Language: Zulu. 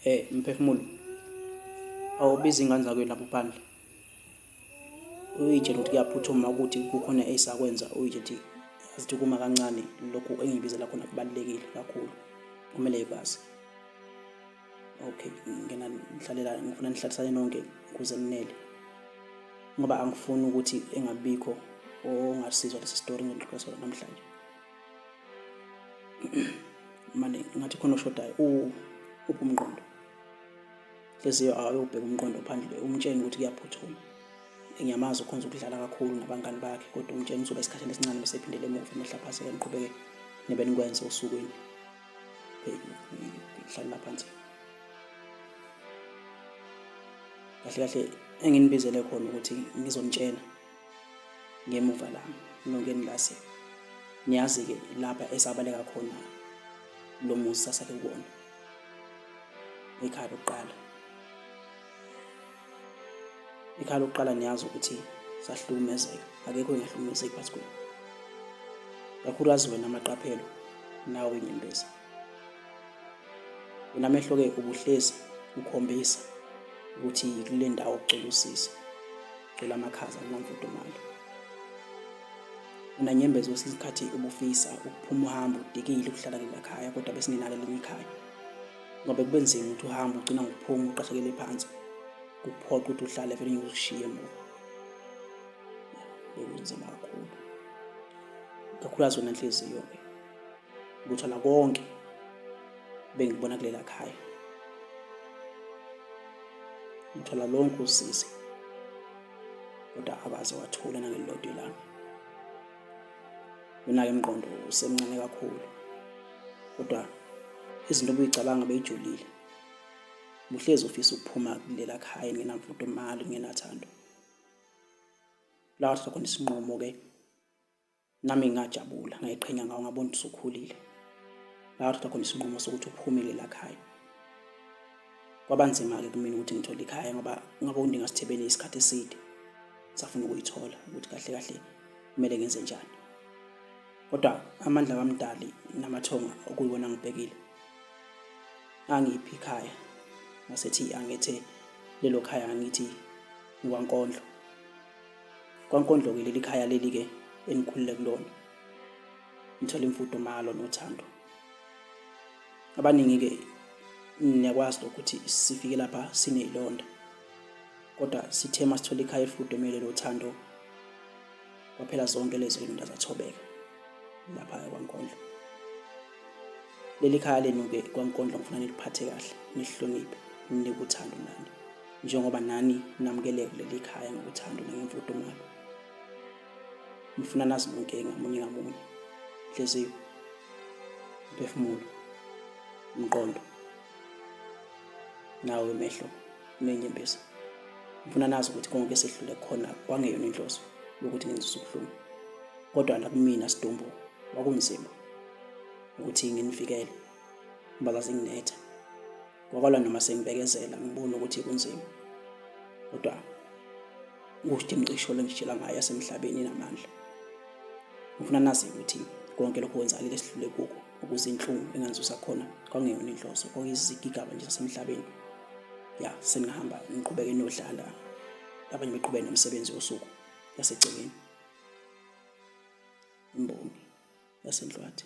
Eh mphefumulo. Awubizi ingane zakwenu lapho phandle. Uyitshela ukuthi kuyaphuthuma ukuthi kukhona esakwenza uyitshela ukuthi azithi kuma kancane lokhu engibizela khona kubalulekile kakhulu. Kumele ikwazi. Okay, ngena ngihlalela ngifuna nihlalisane nonke kuze ninele. Ngoba angifuni ukuthi engabikho ongasizwa lesi story ngidlulisa namhlanje. mane ngathi khona oshodayo uphi umqondo leziyo awuyobheka umqondo phandle umtsheni ukuthi kuyaphuthuma ngiyamazi ukhonza ukudlala kakhulu nabangani bakhe kodwa umtsheni uzoba esikhathini esincane bese ephindele emuva emehlaphaseka niqhubeke nebe nikwenze osukwini hlalela phansi kahle kahle enginibizele khona ukuthi ngizonitshena ngemuva lami nongeni lase niyazi-ke lapha esabaleka khona lo muzi sasake kuwona ikhaya lokuqala ikhaya lokuqala niyazi ukuthi sahlukumezeka akekho engahlukumezeki phansi kwenu kakhulukazi wena amaqaphelo nawe nyembezi wena mehlo-ke ubuhlezi ukhombisa ukuthi kule ndawo kucela usizo cela amakhaza kunamfudumalo unanyembeza kwesinye isikhathi ubufisa ukuphuma uhambe udikile ukuhlala ngelakhaya kodwa besingenalo elinye ikhaya ngoba kube nzima ukuthi uhambe ugcina ngokuphuma uqashekele phansi kuphoqa ukuthi uhlale vele ngikushiye emuva bekunzima kakhulu kakhulukazi wena nhliziyo-ke lutho nakonke bengibona kulela khaya ngithola lonke usizi kodwa akaze wathula nangelilodwa ilanga yona-ke mqondo usemncane kakhulu kodwa izinto obuyicabanga beyijulile muhlezi ufisa ukuphuma kulela khaya ngenamfudumali ngenathando lawa thatha khona isinqumo-ke nami ngajabula ngayiqhenya ngawo ngabona ukuthi usukhulile ngathatha khona isinqumo sokuthi uphumile lakhaya kwabanzima-ke kumina ukuthi ngithole ikhaya ngoba ngabe undingasithebele isikhathi eside safuna ukuyithola ukuthi kahle kahle kumele ngenze njani kodwa amandla kamdali namathonga okuyiwona ngibhekile angiphi ikhaya ngasethi angethe lelo khaya angithi ngikwankondlo kwankondlo-ke leli khaya leli-ke enikhulile kulona ngithole imfudumalo nothando abaningi-ke niyakwazi lokuthi sifike lapha sineyilonda kodwa sithe uma sithole ikhaya elifudumele lothando kwaphela zonke lezi zilonda zathobeka lapha kwankondlo leli khaya lenu-ke kwankondlo ngifuna niliphathe kahle nihloniphe ninike uthando nani njengoba nani namukeleke kuleli khaya ngokuthando nangemfudumalo ngifuna nazi bonke ngamunye ngamunye nhliziyo mphefumulo umqondo nawo imehlo nenyembezi ngifuna nazi ukuthi konke sehlule khona kwangeyona inhloso yokuthi ngenzise ubuhlungu kodwa la kumina sidumbu wakunzima ukuthi nginifikele ngoba zazinginetha Ngokwala noma sengibekezela ngibona ukuthi kunzima. Kodwa ukuthi imcisho lengitshela ngayo yasemhlabeni namandla. Ngifuna nazi ukuthi konke lokho kwenzakile sihlule kuko ukuze inhlungu enganzusa khona kwangeyona inhloso kwakuyizigigaba nje zasemhlabeni. Ya senihamba niqhubeke nodlala abanye beqhubeke nomsebenzi wosuku yasegcekeni. Imbongi yasenhlwathi.